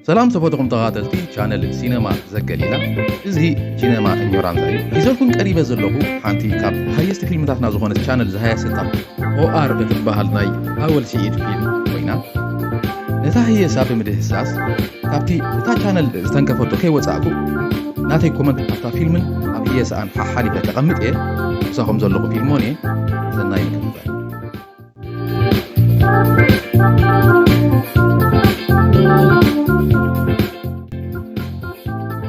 ሰላም ተፈጥኹም ተኻተልቲ ቻነል ሲነማ ዘገሊላ እዚ ሲነማ እኞራንዛ እዩ ሒዘልኩም ቀሪበ ዘለኹ ሓንቲ ካብ ሃየስቲ ፊልምታትና ዝኾነት ቻነል ዝሃያሰታ ኦኣር እትበሃል ናይ ኣወል ስዒድ ፊልም ኮይና ነታ ህየሳ ብምድህሳስ ካብቲ እታ ቻነል ዝተንከፈቶ ከይወፃእኩ ናተይ ኮመንት ኣብታ ፊልምን ኣብ ህየሳኣን ሓሓሊፈ ከቐምጥ እየ ምሳኹም ዘለኹ ፊልሞን እየ ዘናይ ምክትታል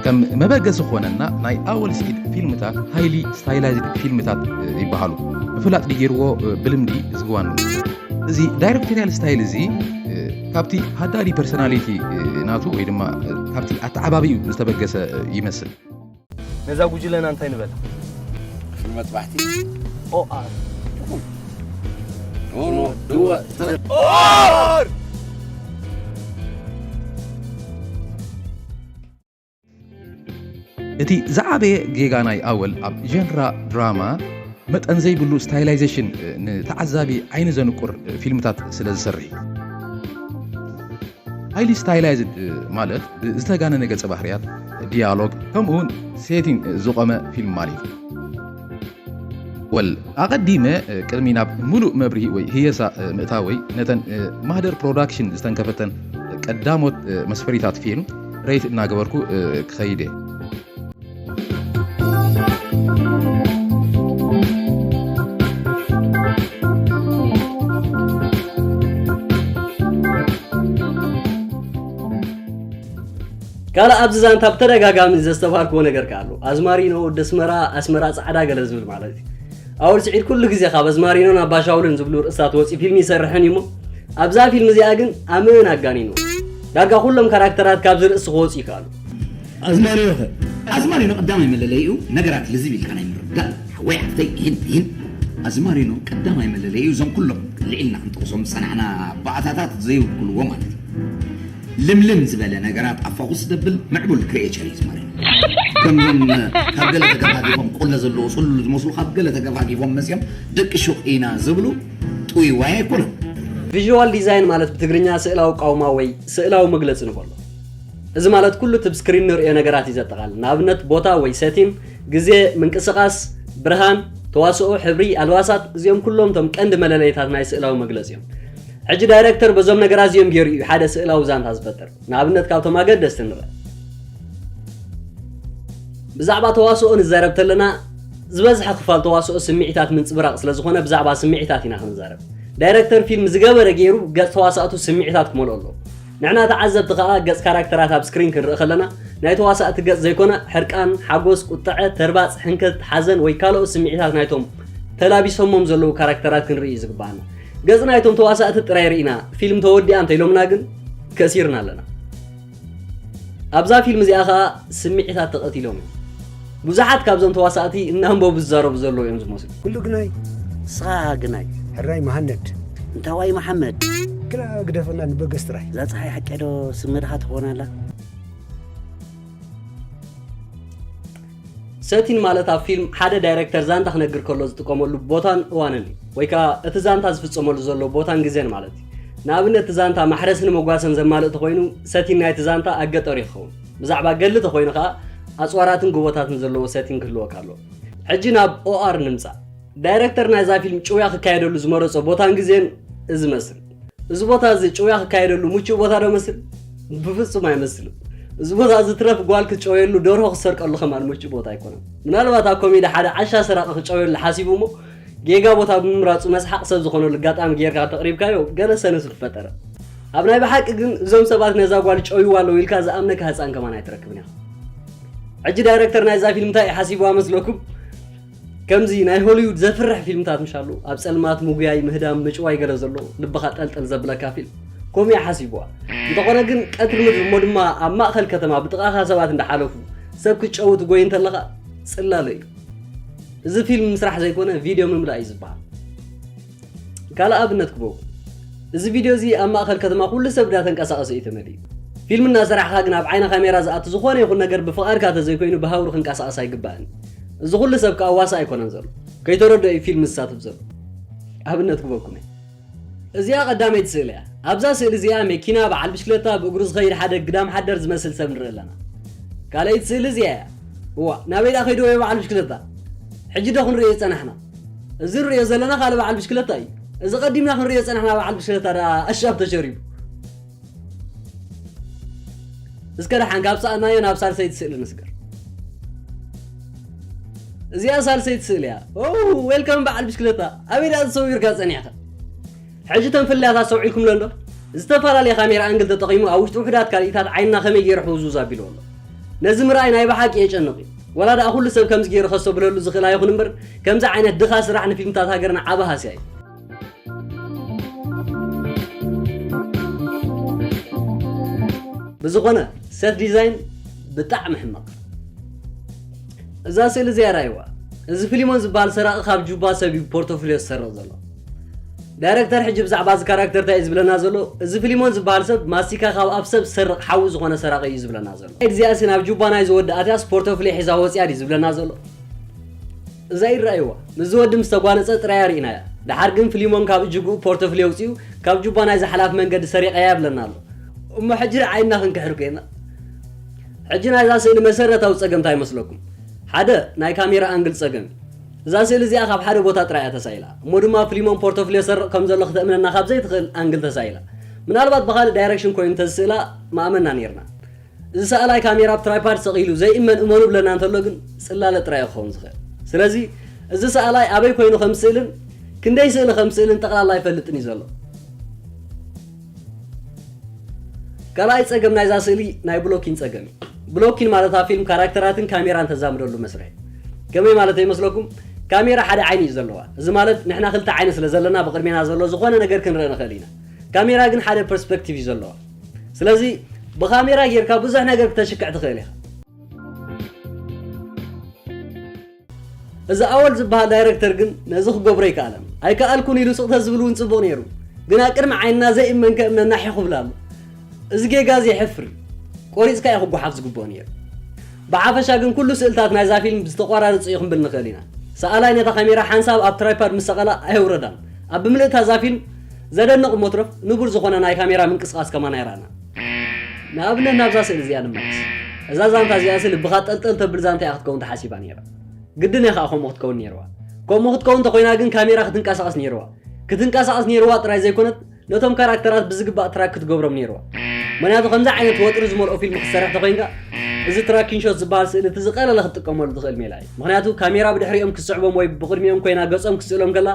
ከም መበገሲ ዝኾነና ናይ ኣወል ስዒድ ፊልምታት ሃይሊ ስታይላይዝድ ፊልምታት ይበሃሉ ምፍላጥ ድገይርዎ ብልምዲ ዝግዋኑ እዚ ዳይሬክቶሪያል ስታይል እዚ ካብቲ ሃዳዲ ፐርሶናሊቲ ናቱ ወይ ድማ ካብቲ ኣተዓባቢኡ ዝተበገሰ ይመስል ነዛ ጉጅለና እንታይ ንበላ ክፍሊ መፅባሕቲ ኦኣር ኦር እቲ ዝዓበየ ጌጋ ናይ ኣወል ኣብ ጀንራ ድራማ መጠን ዘይብሉ ስታይላይዜሽን ንተዓዛቢ ዓይኒ ዘንቁር ፊልምታት ስለ ዝሰርሕ እዩ። ሃይሊ ስታይላይዝድ ማለት ብዝተጋነነ ገጸ ባህርያት፣ ዲያሎግ ከምኡውን ሴቲንግ ዝቖመ ፊልም ማለት እዩ። ወል ኣቐዲመ ቅድሚ ናብ ምሉእ መብርሂ ወይ ህየሳ ምእታወይ ነተን ማህደር ፕሮዳክሽን ዝተንከፈተን ቀዳሞት መስፈሪታት ፊልም ረይት እናገበርኩ ክኸይድ እየ ካልእ ኣብዚ ዛንታ ብተደጋጋሚ ዘስተብሃልክዎ ነገር ከኣ ኣሎ። ኣዝማሪኖ፣ ወዲ ኣስመራ፣ ኣስመራ ጻዕዳ ገለ ዝብል ማለት እዩ። ኣወል ስዒድ ኩሉ ግዜ ካብ ኣዝማሪኖን ኣባሻውልን ዝብሉ ርእስታት ወጺኡ ፊልሚ ይሰርሕን እዩ እሞ ኣብዛ ፊልም እዚኣ ግን ኣመን ኣጋኒኑ ዳርጋ ኩሎም ካራክተራት ካብዚ ርእሲ ክወጹ ይከኣሉ። ኣዝማሪኖ ከ? ኣዝማሪኖ ቀዳማይ መለለይኡ ነገራት ልዝብ ኢልካ ናይ ምርዳእ ሓወይ ሓፍተይ ይህን ይህን ኣዝማሪኖ ቀዳማይ መለለይኡ እዞም ኩሎም ልዒልና ክንጠቕሶም ዝጸናሕና ባእታታት ዘይውክልዎ ማለት እዩ። ልምልም ዝበለ ነገራት ኣብ ፎኩስ ዘብል ምዕቡል ክሪኤቸር እዩ ዝመርሕ። ከምዞም ካብ ገለ ተገፋጊፎም ቆለ ዘለዎ ጽሉሉ ዝመስሉ ካብ ገለ ተገፋጊፎም መጽዮም ደቂ ሹቕ ኢና ዝብሉ ጥውይዋይ ኣይኮኑን። ቪዥዋል ዲዛይን ማለት ብትግርኛ ስእላዊ ቃውማ ወይ ስእላዊ መግለጺ ንበሎ። እዚ ማለት ኩሉ እቲ ብ ስክሪን ንርእዮ ነገራት እዩ ዘጠቓልል። ንኣብነት ቦታ ወይ ሰቲን፣ ግዜ፣ ምንቅስቓስ፣ ብርሃን፣ ተዋስኦ፣ ሕብሪ፣ ኣልባሳት፣ እዚኦም ኩሎም እቶም ቀንዲ መለለይታት ናይ ስእላዊ መግለጺ እዮም። ሕጂ ዳይረክተር በዞም ነገራት እዚኦም ገይሩ እዩ ሓደ ስእላዊ ዛንታ ዝፈጥር። ንኣብነት ካብቶም ኣገደስቲ ንበል ብዛዕባ ተዋስኦ ንዛረብ ተለና ዝበዝሐ ክፋል ተዋስኦ ስምዒታት ምንጽብራቕ ስለ ዝኾነ ብዛዕባ ስምዒታት ኢና ክንዛረብ። ዳይረክተር ፊልም ዝገበረ ገይሩ ገጽ ተዋሳእቱ ስምዒታት ክመልኦ ኣለዎ። ንሕና ተዓዘብቲ ከኣ ገጽ ካራክተራት ኣብ ስክሪን ክንርኢ ከለና ናይ ተዋሳእቲ ገጽ ዘይኮነ ሕርቃን፣ ሓጎስ፣ ቁጠዐ፣ ተርባጽ፣ ሕንከት፣ ሓዘን ወይ ካልኦት ስምዒታት ናይቶም ተላቢሶሞም ዘለዉ ካራክተራት ክንርኢ እዩ ዝግበኣና። ገጽ ናይቶም ተዋሳእቲ ጥራይ ርኢና ፊልም ተወዲኣ እንተኢሎምና ግን ከሲርና ኣለና ኣብዛ ፊልም እዚኣ ከዓ ስምዒታት ተቐቲሎም እዮም ብዙሓት ካብዞም ተዋሳእቲ እናንበቡ ዝዛረቡ ዘለዉ እዮም ዝመስሉ ኩሉ ግናይ ስኻ ግናይ ሕራይ መሃነድ እንታዋይ መሓመድ ግና ግደፈና ንበገስ ጥራይ እዛ ፀሓይ ሓቀዶ ስመድኻ ትኾናላ ሰቲን ማለት ኣብ ፊልም ሓደ ዳይረክተር ዛንታ ክነግር ከሎ ዝጥቀመሉ ቦታን እዋንን እዩ ወይ ከዓ እቲ ዛንታ ዝፍፀመሉ ዘሎ ቦታን ግዜን ማለት እዩ ንኣብነት እቲ ዛንታ ማሕረስን መጓሰን ዘማልእ ተኾይኑ ሰቲን ናይቲ ዛንታ ኣብ ገጠር እዩ ክኸውን ብዛዕባ ገድሊ ተኾይኑ ከዓ ኣፅዋራትን ጎቦታትን ዘለዎ ሰቲን ክህልወካ ኣለዎ ሕጂ ናብ ኦኣር ንምፃእ ዳይረክተር ናይዛ ፊልም ጭውያ ክካየደሉ ዝመረፆ ቦታን ግዜን እዚ መስል እዚ ቦታ እዚ ጭውያ ክካየደሉ ምቹእ ቦታ ዶ መስል? ብፍጹም ኣይመስልን። እዚ ቦታ እዚ ትረፍ ጓል ክትጨውየሉ ደርሆ ክትሰርቀሉ ከማን ምቹእ ቦታ ኣይኮነን። ምናልባት ኣብ ኮሜዲ ሓደ ዓሻ ሰራቒ ክጨውየሉ ሓሲቡ እሞ ጌጋ ቦታ ብምምራጹ መስሓቕ ሰብ ዝኾነሉ ኣጋጣሚ ጌርካ እንተቕሪብካዮ ገለ ሰንስ ምፈጠረ። ኣብ ናይ ብሓቂ ግን እዞም ሰባት ነዛ ጓል ይጨውይዋ ኣለዉ ኢልካ ዝኣምነካ ህጻን ከማን ኣይትረክብን ኢኻ። ሕጂ ዳይረክተር ናይዛ ፊልም እንታይ ሓሲብዋ መስለኩም? ከምዚ ናይ ሆሊዉድ ዘፍርሕ ፊልምታት ምሽ ኣሎ ኣብ ጸልማት ምጉያይ ምህዳም ምጭዋይ ገለ ዘሎ ልብኻ ጠልጠል ዘብለካ ፊልም ኮምያ ሓሲብዋ እንተኾነ ግን ቀትሪ ምድሪ እሞ ድማ ኣብ ማእኸል ከተማ ብጥቓኻ ሰባት እንዳሓለፉ ሰብ ክትጨው ትጎይ እንተለኻ ጽላለ እዩ እዚ ፊልም ምስራሕ ዘይኮነ ቪድዮ ምምላእ እዩ ዝበሃል ካልእ ኣብነት ክበኩም እዚ ቪድዮ እዚ ኣብ ማእኸል ከተማ ኩሉ ሰብ ግዳ ተንቀሳቐሰ እዩ ተመሊኡ ፊልም እናሰራሕኻ ግን ኣብ ዓይነ ካሜራ ዝኣቱ ዝኾነ ይኹን ነገር ብፍቓድካ ተዘይኮይኑ ብሃውሪ ክንቀሳቐስ ኣይግባእን እዚ ኩሉ ሰብ ከዓ ዋሳ ኣይኮነን ዘሎ ከይተረድኦ እዩ ፊልም ዝሳተፍ ዘሎ ኣብነት ክበኩም እየ እዚኣ ቀዳመይቲ ስእሊ እያ ኣብዛ ስእሊ እዚኣ መኪና በዓል ብሽክለታ ብእግሩ ዝኸይድ ሓደ ግዳም ሓደር ዝመስል ሰብ ንርኢ ኣለና ካልኣይቲ ስእሊ እዚኣ እያ እዋ ናበይ ደኣ ከይዱ ወይ በዓል ብሽክለታ ሕጂ ዶ ክንሪኦ ዝፀናሕና እዚ ንርእዮ ዘለና ካልእ በዓል ብሽክለታ እዩ። እዚ ቀዲምና ክንርእዮ ዝጸናሕና በዓል ብሽክለታ ደኣ ኣሻብ ተሸሪቡ። እስከ ደሓን ካብ ሰኣናዮ ናብ ሳልሰይቲ ስእሊ ንስገር። እዚኣ ሳልሰይቲ ስእሊ እያ። ኦ ዌልካም በዓል ብሽክለታ፣ ኣበይ ደኣ ተሰዊርካ ጸኒሕካ? ሕጂ እተን ፍልልያት ኣስተውዒልኩምለን ዶ? ዝተፈላለየ ካሜራ ኣንግል ተጠቒሙ ኣብ ውሽጢ ውሑዳት ካልኢታት ዓይንና ከመይ ገይሩ ሕውዝውዝ ኣቢልዎ ኣሎ። ነዚ ምርኣይ ናይ ብሓቂ የጨንቕ እዩ። ወላ ደኣ ኩሉ ሰብ ከምዚ ገይሩ ከስተብህለሉ ዝኽእል ኣይኹን እምበር ከምዚ ዓይነት ድኻ ስራሕ ንፊልምታት ሃገርና ዓቢ ሃስያ እዩ። ብዝኾነ ሰት ዲዛይን ብጣዕሚ ሕማቕ። እዛ ስእሊ እዚኣ ርኣይዋ። እዚ ፍሊሞን ዝበሃል ሰራቒ ካብ ጁባ ሰብ እዩ ብፖርቶፍልዮ ዝሰርቕ ዘሎ። ዳይረክተር ሕጂ ብዛዕባ እዚ ካራክተር ታይ እዩ ዝብለና ዘሎ እዚ ፍሊሞን ዝብሃል ሰብ ማስቲካ ካብ ኣፍ ሰብ ዝሰርቅ ሓዊ ዝኮነ ሰራቂ እዩ ዝብለና ዘሎ እዚኣሲ ናብ ጁባ ናይዚ ወዲ ኣትያስ ፖርቶፍልዮ ሒዛ ወጽያ ድዩ ዝብለና ዘሎ እዛ ኢድ ረኣይዋ ምስዚ ወዲ ምስ ተጓነጸ ጥራያ ርኢናያ ደሓር ግን ፍሊሞን ካብ እጅግኡ ፖርቶፍልዮ ኣውጺኡ ካብ ጁባ ናይዚ ሓላፊ መንገዲ ሰሪቀያ ይብለና ኣሎ እሞ ሕጂ ዓይንና ክንክሕር ኮይና ሕጂ ናይዛ ስእሊ መሰረታዊ ጸገም ታይ መስለኩም ሓደ ናይ ካሜራ ኣንግል ጸገም እዩ እዛ ስእሊ እዚኣ ካብ ሓደ ቦታ ጥራይ እያ ተሳኢላ፣ እሞ ድማ ፍሊሞን ፖርቶፍልዮ ዝሰርቕ ከም ዘሎ ክተእምነና ካብ ዘይትኽእል ኣንግል ተሳኢላ። ምናልባት ብኻልእ ዳይረክሽን ኮይኑ እንተዝስእላ ምኣመንና ኔርና። እዚ ሰኣላይ ካሜራ ኣብ ትራይፓድ ሰቒሉ ዘይእመን እመኑ እብለና እንተሎ ግን ጽላለ ጥራይ እዩ ክኸውን ዝኽእል። ስለዚ እዚ ሰኣላይ ኣበይ ኮይኑ ከም ዝስእልን ክንደይ ስእሊ ከም ዝስእልን ጠቕላላ ኣይፈልጥን እዩ ዘሎ። ካልኣይ ጸገም ናይዛ ስእሊ ናይ ብሎኪን ጸገም እዩ። ብሎኪን ማለት ኣብ ፊልም ካራክተራትን ካሜራን ተዛምደሉ መስርሕ እዩ። ከመይ ማለተይ ይመስለኩም? ካሜራ ሓደ ዓይኒ እዩ ዘለዋ። እዚ ማለት ንሕና ክልተ ዓይኒ ስለ ዘለና ብቕድሜና ዘሎ ዝኾነ ነገር ክንርኢ ንኽእል ኢና። ካሜራ ግን ሓደ ፐርስፐክቲቭ እዩ ዘለዋ። ስለዚ ብካሜራ ጌርካ ብዙሕ ነገር ክተሽክዕ ትኽእል ኢኻ። እዚ ኣወል ዝበሃል ዳይረክተር ግን ነዚ ክገብሮ ኣይከኣለን። ኣይከኣልኩን ኢሉ ስቕ ተዝብል እውን ጽቡቕ ነይሩ። ግን ኣብ ቅድሚ ዓይንና ዘይእመንከ እምነና ሒኽ ይብል ኣሎ። እዚ ጌጋ እዚ የሕፍር እዩ። ቆሪጽካ እዩ ክጎሓፍ ዝግብኦ ነይሩ። ብሓፈሻ ግን ኩሉ ስእልታት ናይዛ ፊልም ብዝተቆራረጹ እዩ ክንብል ንኽእል ኢና። ሰኣላይ ነታ ካሜራ ሓንሳብ ኣብ ትራይፓድ ምስ ሰቐላ ኣየውረዳን። ኣብ ብምልእታ እዛ ፊልም ዘደንቕ እሞ ትረፍ ንቡር ዝኾነ ናይ ካሜራ ምንቅስቓስ ከማን ኣይረኣናን። ንኣብነት ናብዛ ስእሊ እዚኣ ንመለስ። እዛ ዛንታ እዚኣሲ ልብኻ ጠልጠል ተብል ዛንታ እያ ክትከውን ተሓሲባ ነይራ። ግድን እያ ከኣ ከምኡ ክትከውን ነይርዋ። ከምኡ ክትከውን እንተኾይና ግን ካሜራ ክትንቀሳቐስ ነይርዋ። ክትንቀሳቐስ ነይርዋ ጥራይ ዘይኮነት ነቶም ካራክተራት ብዝግባእ ትራክ ክትገብሮም ነይርዋ። ምኽንያቱ ከምዚ ዓይነት ወጥሪ ዝመልኦ ፊልም ክትሰርሕ ተኾይንካ እዚ ትራኪን ሾት ዝበሃል ስእሊ እቲ ዝቐለለ ክትጥቀመሉ ትኽእል ሜላ እዩ። ምኽንያቱ ካሜራ ብድሕሪኦም ክትስዕቦም ወይ ብቕድሚኦም ኮይና ገጾም ክትስእሎም ከላ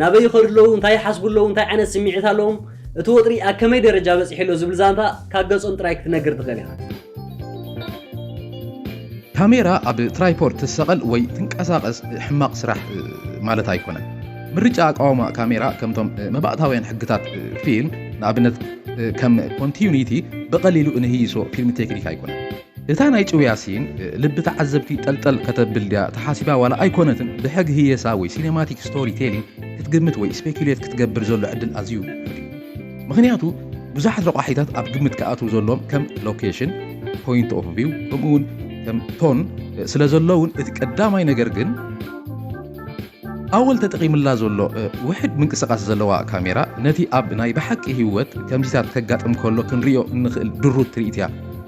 ናበይ ይኸዱ ኣለዉ፣ እንታይ ይሓስቡ ኣለዉ፣ እንታይ ዓይነት ስምዒት ኣለዎም፣ እቲ ወጥሪ ኣብ ከመይ ደረጃ በጺሑ ኣሎ ዝብል ዛንታ ካብ ገጾም ጥራይ ክትነግር ትኽእል ኢኻ። ካሜራ ኣብ ትራይፖድ ትሰቐል ወይ ትንቀሳቐስ ሕማቕ ስራሕ ማለት ኣይኮነን። ምርጫ ኣቃውማ ካሜራ ከምቶም መባእታውያን ሕግታት ፊልም፣ ንኣብነት ከም ኮንቲዩኒቲ፣ ብቐሊሉ እንህይሶ ፊልም ቴክኒክ ኣይኮነን። እታ ናይ ጭውያ ሲን ልቢ ተዓዘብቲ ጠልጠል ከተብል ድያ ተሓሲባ ዋላ ኣይኮነትን ብሕግ ህየሳ ወይ ሲነማቲክ ስቶሪ ቴሊንግ ክትግምት ወይ ስፔኩሌት ክትገብር ዘሎ ዕድል ኣዝዩ ልዑል እዩ ምኽንያቱ ብዙሓት ረቋሒታት ኣብ ግምት ክኣትው ዘሎዎም ከም ሎኬሽን ፖይንት ኦፍ ቪው ከምኡ እውን ከም ቶን ስለዘለውን እቲ ቀዳማይ ነገር ግን ኣወል ተጠቒምላ ዘሎ ውሕድ ምንቅስቓስ ዘለዋ ካሜራ፣ ነቲ ኣብ ናይ ብሓቂ ህይወት ከምዚታት ከጋጥም ከሎ ክንርእዮ እንኽእል ድሩት ትርኢት እያ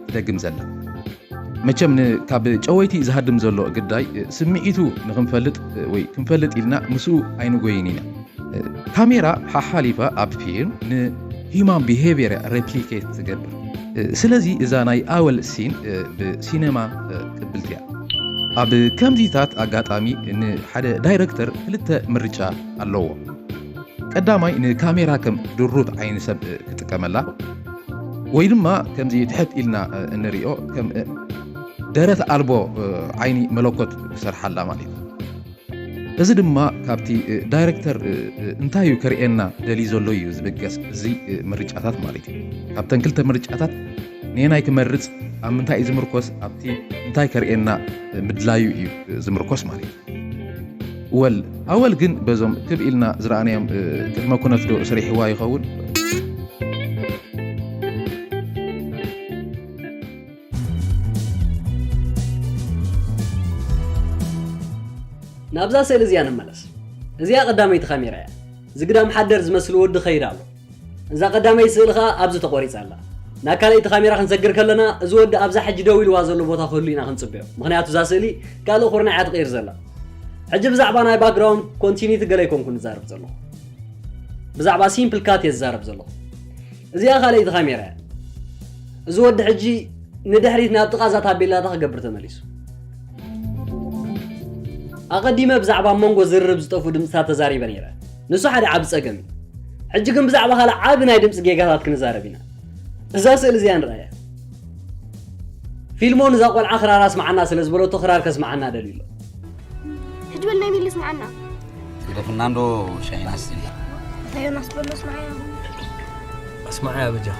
ትደግም ዘላ። መቸም ንካብ ጨወይቲ ዝሃድም ዘሎ ግዳይ ስምዒቱ ንኽንፈልጥ ወይ ክንፈልጥ ኢልና ምስኡ ኣይንጎይን ኢና። ካሜራ ሓሓሊፋ ኣብ ፊልም ን ሂማን ቢሄቪየር እያ ረፕሊኬት ትገብር። ስለዚ እዛ ናይ ኣወል ሲን ብ ሲነማ ቅብልቲ እያ። ኣብ ከምዚታት ኣጋጣሚ ንሓደ ዳይረክተር ክልተ ምርጫ ኣለዎ። ቀዳማይ ንካሜራ ከም ድሩት ዓይኒ ሰብ ክጥቀመላ ወይ ድማ ከምዚ ትሕት ኢልና እንሪኦ ከም ደረት ኣልቦ ዓይኒ መለኮት ክሰርሓላ ማለት እዩ እዚ ድማ ካብቲ ዳይረክተር እንታይ እዩ ከርእየና ደልዩ ዘሎ እዩ ዝብገስ እዚ ምርጫታት ማለት እዩ ካብተን ክልተ ምርጫታት ነየናይ ክመርጽ ኣብ ምንታይ እዩ ዝምርኮስ ኣብቲ እንታይ ከርእየና ምድላዩ እዩ ዝምርኮስ ማለት እዩ ወል ኣወል ግን በዞም ክብ ኢልና ዝረኣናዮም ቅድመ ኩነት ዶ ስሪሕዋ ይኸውን ናብዛ ስእሊ እዚኣ ንመለስ እዚኣ ቀዳመይቲ ካሜራ እያ ዝግዳም ሓደር ዝመስል ወዲ ኸይድ ኣሎ እዛ ቀዳመይቲ ስእሊ ከኣ ኣብዚ ተቖሪጻ ኣላ። ናብ ካልኣይቲ ካሜራ ክንሰግር ከለና እዚ ወዲ ኣብዛ ሕጂ ደው ኢልዋ ዘሎ ቦታ ክህሉ ኢና ክንጽበዮ ምኽንያቱ እዛ ስእሊ ካልእ ኩርናዕ እያ ትቕይር ዘላ። ሕጂ ብዛዕባ ናይ ባክግራውንድ ኮንቲኒቲ ገለ ኣይኮንኩን ዝዛረብ ዘለኹ ብዛዕባ ሲምፕል ካት እየ ዝዛረብ ዘለኹ። እዚኣ ካልኣይቲ ካሜራ እያ። እዚ ወዲ ሕጂ ንድሕሪት ናብ ጥቓ እዛ ታቤላታ ክገብር ተመሊሱ። ኣቐዲመ ብዛዕባ ኣብ መንጎ ዝርርብ ዝጠፍኡ ድምጽታት ተዛሪበ ነይረ፣ ንሱ ሓደ ዓቢ ጸገም እዩ። ሕጂ ግን ብዛዕባ ካልእ ዓቢ ናይ ድምጺ ጌጋታት ክንዛረብ ኢና። እዛ ስእሊ እዚኣ ንርኣያ። ፊልሞን እዛ ቆልዓ ክራር ኣስምዓና ስለ ዝበለቶ ክራር ከስምዓና ደልዩ ኣሎ። ሕጂ በል ናይ ሚሊ ስምዓና። ስለ ፍርናንዶ ሻሂን ኣስትይ እንታይ ዮናስ በሎ ስምዓያ። ኣስምዓያ በጃኻ።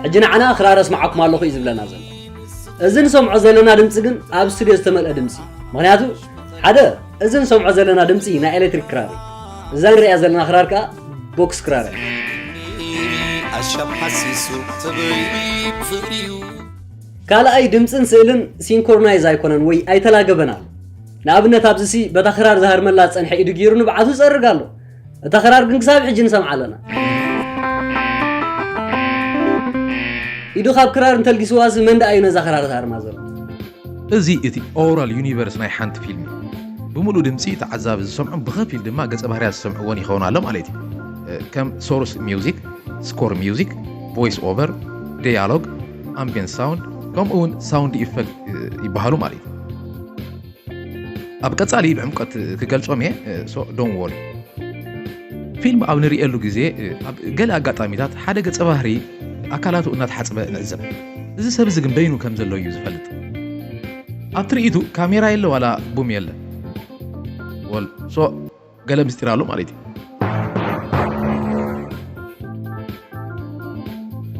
ሕጂ ንዓና ክራር ኣስማዓኩም ኣለኹ እዩ ዝብለና ዘሎ እዚ ንሰምዖ ዘለና ድምፂ ግን ኣብ ስትድዮ ዝተመልአ ድምፂ እዩ ምክንያቱ ሓደ እዚ ንሰምዖ ዘለና ድምፂ ናይ ኤሌክትሪክ ክራር እዩ እዛ ንሪኣ ዘለና ክራር ከዓ ቦክስ ክራር እያ ኣሻብ ሓሲሱ ተበይቢ ፍቅሪዩ ካልኣይ ድምፅን ስእልን ሲንኮርናይዝ ኣይኮነን ወይ ኣይተላገበን ኣሎ ንኣብነት ኣብዚ ሲ በታ ክራር ዝሃርመላ ዝፀንሐ ኢዱ ገይሩ ንብዓቱ ይፀርግ ኣሎ እታ ክራር ግን ክሳብ ሕጂ ንሰምዓ ኣለና ኢዱ ካብ ክራር እንተልጊስዋሲ መን ደኣ እዩ ነዛ ክራር ዝሃርማ ዘሎ እዚ እቲ ኦራል ዩኒቨርስ ናይ ሓንቲ ፊልም ብምሉእ ድምፂ ተዓዛቢ ዝሰምዑን ብኸፊል ድማ ገፀ ባህርያት ዝሰምዕዎን ይኸውን ኣሎ ማለት እዩ ከም ሶርስ ሚውዚክ ስኮር ሚውዚክ ቮይስ ኦቨር ዲያሎግ ኣምቢየንስ ሳውንድ ከምኡ እውን ሳውንድ ኢፌክት ይበሃሉ ማለት እዩ ኣብ ቀጻሊ ብዕምቀት ክገልጾም እየ ሶ ዶን ወሪ ፊልም ኣብ ንርእየሉ ግዜ ኣብ ገለ ኣጋጣሚታት ሓደ ገጸ ባህሪ ኣካላቱ እናተሓጽበ ንዕዘብ እዚ ሰብ እዚ ግን በይኑ ከም ዘሎ እዩ ዝፈልጥ ኣብ ትርኢቱ ካሜራ የለ ዋላ ቡም የለ ወል ሶ ገለ ምስጢር ኣሎ ማለት እዩ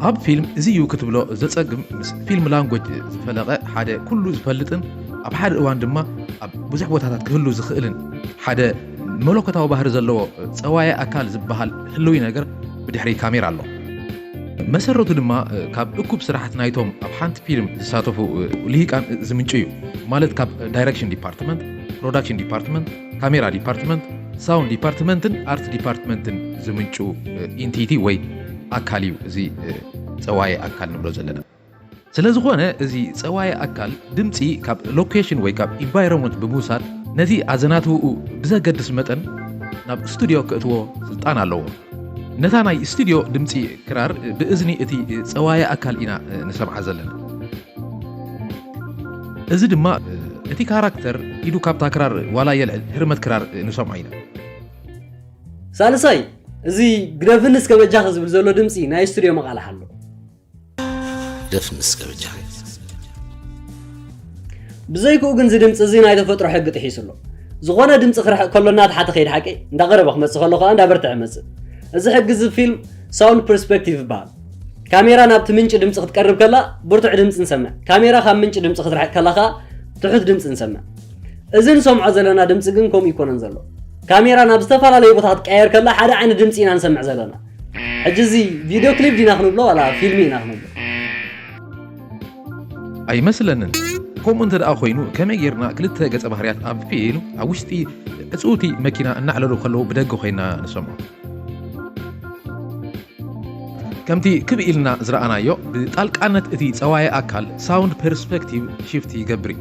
ኣብ ፊልም እዚ እዩ ክትብሎ ዘጸግም ምስ ፊልም ላንጎጅ ዝፈለቐ ሓደ ኩሉ ዝፈልጥን ኣብ ሓደ እዋን ድማ ኣብ ብዙሕ ቦታታት ክህሉ ዝኽእልን ሓደ መለኮታዊ ባህሪ ዘለዎ ፀዋየ ኣካል ዝበሃል ህልዊ ነገር ብድሕሪ ካሜራ ኣሎ መሰረቱ ድማ ካብ እኩብ ስራሕት ናይቶም ኣብ ሓንቲ ፊልም ዝሳተፉ ልሂቃን ዝምንጩ እዩ ማለት ካብ ዳይረክሽን ዲፓርትመንት ፕሮዳክሽን ዲፓርትመንት ካሜራ ዲፓርትመንት፣ ሳውንድ ዲፓርትመንትን ኣርት ዲፓርትመንትን ዝምንጩ ኢንቲቲ ወይ ኣካል እዩ እዚ ፀዋየ ኣካል ንብሎ ዘለና። ስለ ዝኾነ እዚ ፀዋየ ኣካል ድምፂ ካብ ሎኬሽን ወይ ካብ ኢንቫይሮንመንት ብምውሳድ ነቲ ኣዘናትውኡ ብዘገድስ መጠን ናብ ስቱድዮ ክእትዎ ስልጣን ኣለዎ። ነታ ናይ ስቱድዮ ድምፂ ክራር ብእዝኒ እቲ ፀዋየ ኣካል ኢና ንሰምዓ ዘለና እዚ ድማ እቲ ካራክተር ኢዱ ካብታ ክራር ዋላ የልዕል ህርመት ክራር ንሰምዖ ኢና ሳልሳይ እዚ ግደፍኒ እስከ በጃኺ ዝብል ዘሎ ድምፂ ናይ ስቱድዮ መቓልሕ ኣሎ ደፍንስ ከብጃ ብዘይክኡ ግን እዚ ድምፂ እዚ ናይ ተፈጥሮ ሕጊ ጥሒሱ ኣሎ ዝኾነ ድምፂ ክርሕቕ ከሎ እናተሓተ ከይድ ሓቂ እንዳቐረበ ክመፅእ ከሎ ከዓ እንዳበርትዐ መፅእ እዚ ሕጊ እዚ ፊልም ሳውንድ ፐርስፔክቲቭ ይበሃል ካሜራ ናብቲ ምንጪ ድምፂ ክትቀርብ ከላ ብርቱዕ ድምፂ ንሰምዕ ካሜራ ካብ ምንጪ ድምፂ ክትርሕቅ ከላ ከዓ ትሑት ድምፂ ንሰምዕ እዚ ንሰምዖ ዘለና ድምፂ ግን ከምኡ ይኮነን ዘሎ ካሜራ ናብ ዝተፈላለዩ ቦታታት ቀየር ከላ ሓደ ዓይነት ድምፂ ኢና ንሰምዕ ዘለና ሕጂ እዚ ቪድዮ ክሊፕ ዲና ክንብሎ ዋላ ፊልሚ ኢና ክንብሎ ኣይመስለንን ከምኡ እንተ ደኣ ኮይኑ ከመይ ጌርና ክልተ ገጸ ባህርያት ኣብ ፊልም ኣብ ውሽጢ ዕፅውቲ መኪና እናዕለሉ ከለዉ ብደገ ኮይና ንሰምዖ ከምቲ ክብ ኢልና ዝረኣናዮ ብጣልቃነት እቲ ፀዋየ ኣካል ሳውንድ ፐርስፔክቲቭ ሽፍት ይገብር እዩ